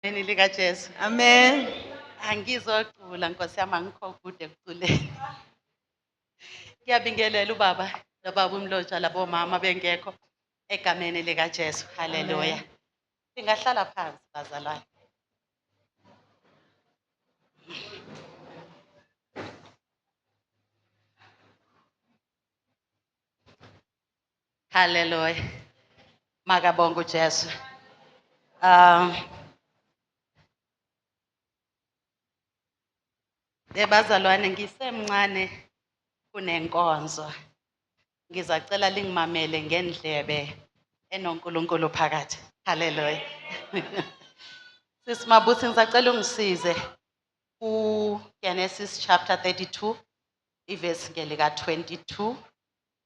Egameni likaJesu. Amen. Angizocula Nkosi yami angikho kude ekuculeni. Ngiyabingelela ubaba nobaba umlotsha labo mama bengekho egameni likaJesu. Haleluya. Singahlala phansi bazalwane. Hallelujah. Makabonga uJesu. Um Ebazalwane ngisemncane kunenkonzo. Ngizacela lingimamele ngendlebe enoNkulunkulu phakathi. Hallelujah. Sisi Mabuthi ngisacela ungisize ku Genesis chapter 32 iverse ngelika 22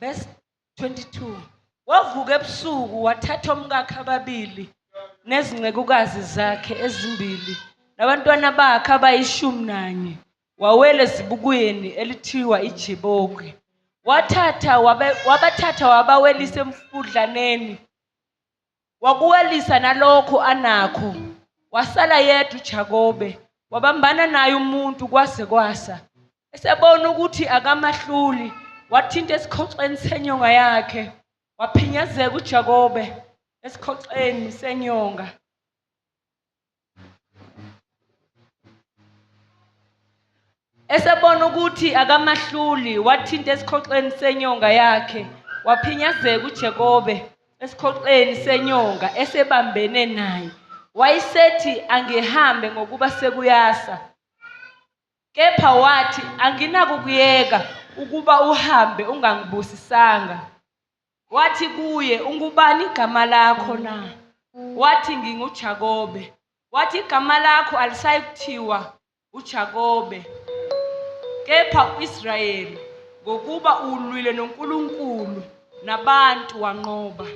Verse 22. Wavuka ebusuku wathatha omkakhe ababili nezincekukazi zakhe ezimbili nabantwana bakhe abayishumi nanye wawela ezibukweni elithiwa iJeboki. Wathatha wabe, wabathatha wabawelisa emfudlaneni Wakuwelisa nalokho anakho, wasala yedwa uJakobe, wabambana naye umuntu kwaze kwasa. Esebona ukuthi akamahluli, wathinta esikhoxeni senyonga yakhe, waphinyazeka uJakobe esikhoxeni senyonga. Esebona ukuthi akamahluli, wathinta esikhoxeni senyonga yakhe, waphinyazeka uJakobe esikhoxeni senyonga esebambene naye. Wayesethi angihambe ngokuba sekuyasa. Kepha wathi anginakukuyeka ukuba uhambe ungangibusisanga. Wathi kuye, Ungubani igama lakho na? Wathi, NginguJakobe. Wathi, Igama lakho alisayi kuthiwa uJakobe, kepha u-Israyeli, ngokuba ulwile noNkulunkulu nabantu wanqoba.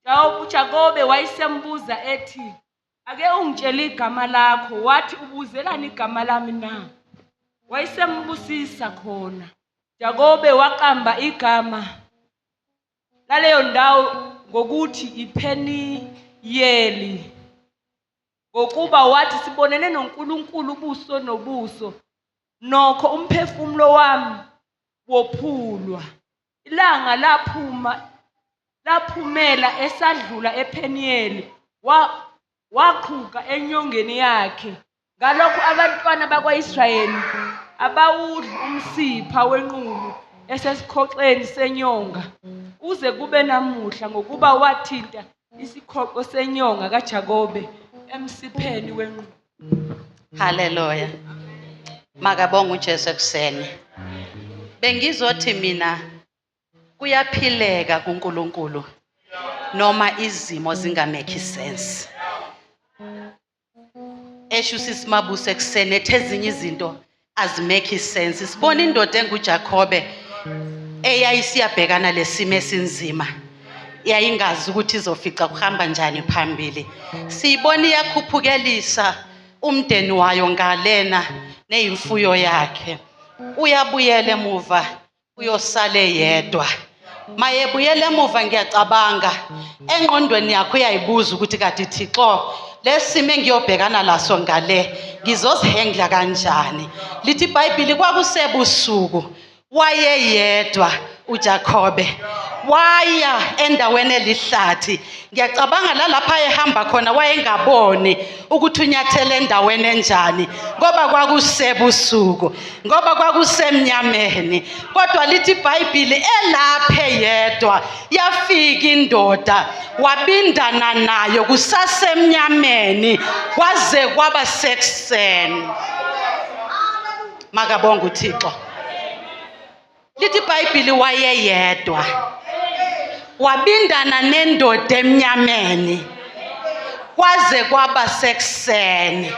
Jaob uJakobe wayesembuza ethi, Ake ungitshele igama lakho, wathi ubuzelani igama lami na? Wayesembusisa khona. Jakobe waqamba igama laleyo ndawo ngokuthi iPheniyeli ngokuba wathi sibonene noNkulunkulu ubuso nobuso nokho umphefumulo wami wophulwa Ilanga laphuma laphumela esadlula ePheniyeli wa, waqhuka enyongeni yakhe. Ngalokho abantwana bakwa-Israyeli abawudli umsipha wenqulu esesikhoxeni senyonga kuze kube namuhla ngokuba wathinta Isikhoqo senyonga kaJakobe emsipheni wenqulu. Haleluya. Makabonga uJesu ekuseni. Bengizothi mina kuyaphileka kuNkulunkulu noma izimo zingamekhi sense. esho usisi Mabuse ekuseni ethi ezinye izinto azimake sense sibona indoda enguJakobe eyayisiyabhekana lesimo esinzima yayingazi ukuthi izofica kuhamba njani phambili siyibona iyakhuphukelisa umndeni wayo ngalena nezimfuyo yakhe uyabuyela emuva uyosale yedwa mayebuyela emuva ngiyacabanga engqondweni yakho uyayibuza ukuthi kade thixo lesimo engiyobhekana laso ngale ngizozihengla kanjani lithi ibhayibhili kwakusebusuku wayeyedwa uJakobe waya endaweni elihlathi Ngiyacabanga lalapha ehamba khona wayengaboni ukuthi unyathela endaweni enjani ngoba kwakusebusuku ngoba kwakusemnyameni kodwa lithi ibhayibhili elaphe yedwa yafika indoda wabindana nayo kusasemnyameni kwaze kwaba sekuseni makabonga uthixo lithi ibhayibhili wayeyedwa wabindana nendoda emnyameni kwaze kwaba sekuseni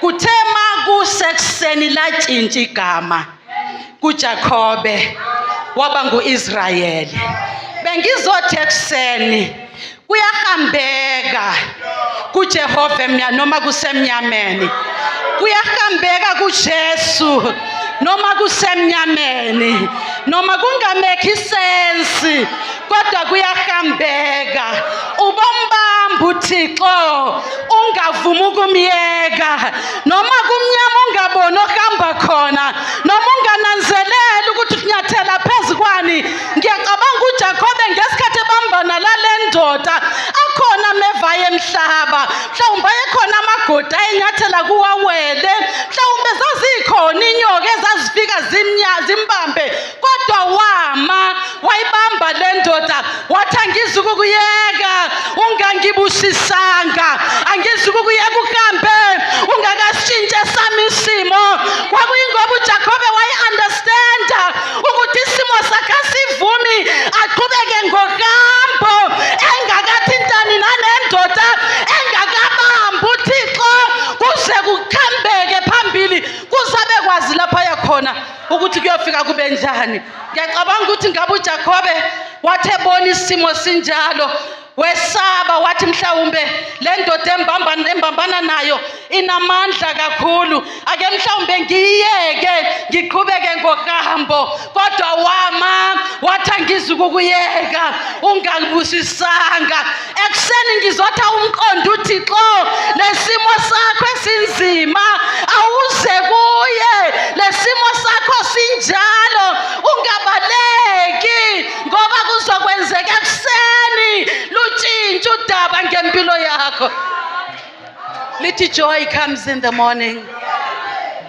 kuthe ma kusekuseni latshintsha igama kuJakobe waba nguIsrayeli bengizothi ekuseni kuyahambeka kujehova emnyama noma kusemnyameni kuyahambeka kujesu noma kusemnyameni noma kungamekhi sensi kodwa kuyahambeka ubombamba uthixo ungavumi ukumyeka noma kumnyama ungaboni ohamba khona noma ungananzeleli ukuthi unyathela phezu kwani Ngiyacabanga uJakobe ngesikhathi ebambana lale ndoda akhona ameva yemhlaba mhlawumbe ayekhona amagoda enyathela kuwawele mhlawumbe zazikhona inyoka ezazifika zimnya zimbambe kodwa wama wayibamba le ndoda wathi angizukukuyeka ungangibusisanga angizukukuyeka uhambe ungakashintshe sami isimo kwakuyingoba uJakobe waye-understanda ukuthi isimo sakhe asivumi aqhubeke ngohambo engakathintani nanendoda engakabambi uthixo kuze kukhambeke phambili kuze abekwazi lapho ayakhona ukuthi kuyofika kube njani ngiyacabanga ukuthi ngabe ujakobe wathi ebona isimo sinjalo wesaba wathi mhlawumbe le ndoda embambana nayo inamandla kakhulu ake mhlawumbe ngiyiyeke ngiqhubeke ngohambo kodwa wama wathi angizukukuyeka ungangibusisanga ekuseni ngizotha umqondo uthixo lesimo sakho esinzima awuze kuye lesimo sakho sinjalo ungabaleki ngoba kuzokwenzeka ekuseni lutshintshe udaba ngempilo yakho lithi joy comes in the morning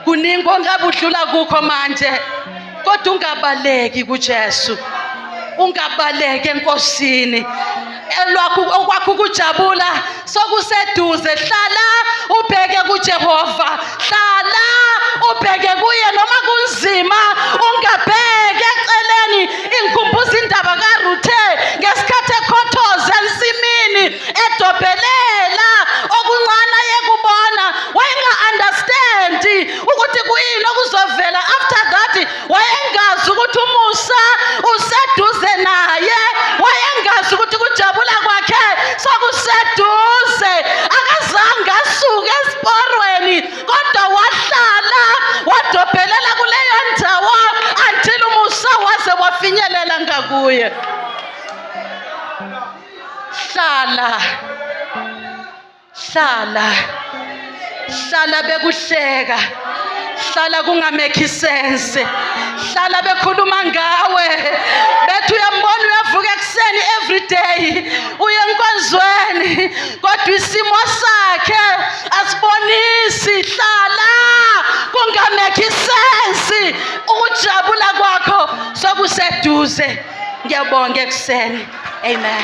kuningi kongabe udlula kukho manje kodwa ungabaleki kuJesu ungabaleki enkosini elwakho okwakho ukujabula sokuseduze hlala ubheke kuJehova hlala ubheke kuye noma kunzima ungabheke eceleni ingikhumbuza indaba kaRuthe ngesikhathi ekhothoza ensimini edobhelela okuncane ayekubona wayenga-understandi ukuthi kuyini okuzovela after that wayengazi ukuthi umusa useduze naye wayengazi ukuthi kujabula kwakhe sokuseduze akazange asuke esiporweni kodwa wahlala wadobhelela kuleyo ndawo until umusa waze wafinyelela ngakuye hlala hlala hlala bekuhleka hlala kungamekhi sense hlala bekhuluma ngawe bethi uyambona uyavuka ekuseni every day uye enkonzweni kodwa isimo sakhe asibonisi hlala kungamekhi sense ukujabula kwakho sokuseduze ngiyabonga ekuseni amen